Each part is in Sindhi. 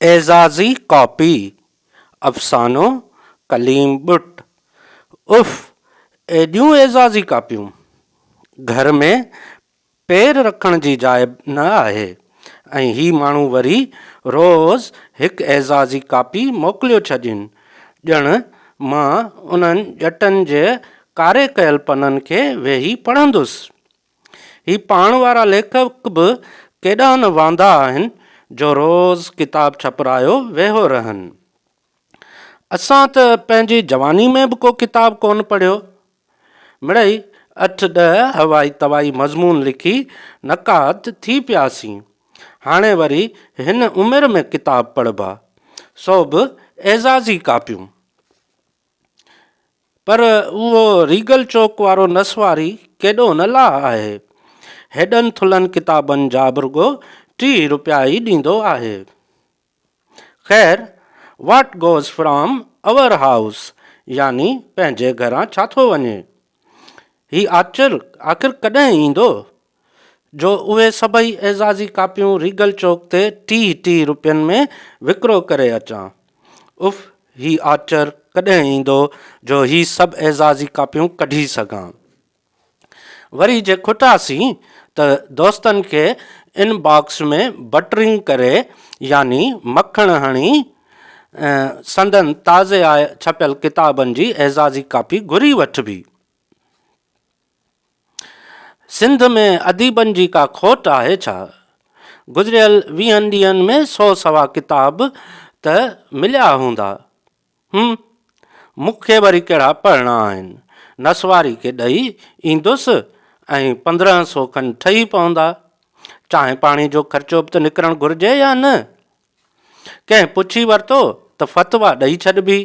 اعزازي ڪاپي افسانو ڪليم ٻٽ اف ايڏيون اعزازي ڪاپيون گهر ۾ پير رکڻ جي جاء نه آهي ۽ هي ماڻهو وري روز هڪ اعزازي ڪاپي موڪليو ڇڏين ڄڻ مان انهن ڄٽن جي ڪاري ڪيل پنن کي ويهي پڙهندس. هي پاڻ وارا ليکڪ به ڪيڏا نه واندا آهن جو روز ڪتاب ڇپرايو ويهو رهن. اسان ته پنهنجي جواني ۾ به ڪو ڪتاب ڪونه پڙهيو. مڙئي اٺ ڏهه هوائي توائي مضمون لکي نقاد ٿي پياسين. هاڻي وري هن عمر ۾ ڪتاب پڙهبا، سو به اعزازي ڪاپيون. پر اهو ريگل چوڪ وارو نسواري ڪيڏو نه لاء آهي. هيڏن ٿلهن ڪتابن جا به رڳو ٽيهه روپيا ئي ڏيندو آهي. خير، what goes from our house يعني پنهنجي گهران ڇا ٿو وڃي. هي آچر آخر ڪڏهن ايندو جو اهي سڀئي اعزازي ڪاپيون ريگل چوڪ تي ٽيهه ٽيهه روپين ۾ وڪرو ڪري اچان. اف هي آچر ڪڏهن ايندو جو هي سڀ اعزازي ڪاپيون ڪڍي سگهان. وري جي کٽاسين ته دوستن کي ان باڪس ۾ بٽرنگ ڪري يعني مکڻ هڻي ۽ سندن تازي آء ڇپيل ڪتابن جي اعزازي ڪاپي گهري وٺبي. سنڌ ۾ اديبن جي ڪا کوٽ آهي ڇا؟ گذريل ويهن ڏينهن ۾ سو سوا ڪتاب ته مليا هوندا. هم! مون کي وري ڪهڙا پڙهڻا آهن. نسواري کي ڏئي ايندس ۽ پندرهن سو کن ٺهي پوندا. چانهه پاڻي جو خرچو به ته نڪرڻ گهرجي يا نه؟ ڪنهن پڇي ورتو ته فتويٰ ڏئي ڇڏبي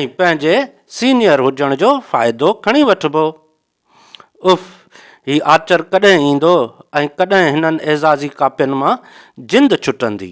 ۽ پنهنجي سينيئر هجڻ جو فائدو کڻي وٺبو. اف! هي آچر ڪڏهن ايندو ۽ ڪڏهن هنن اعزازي ڪاپين مان جند ڇٽندي.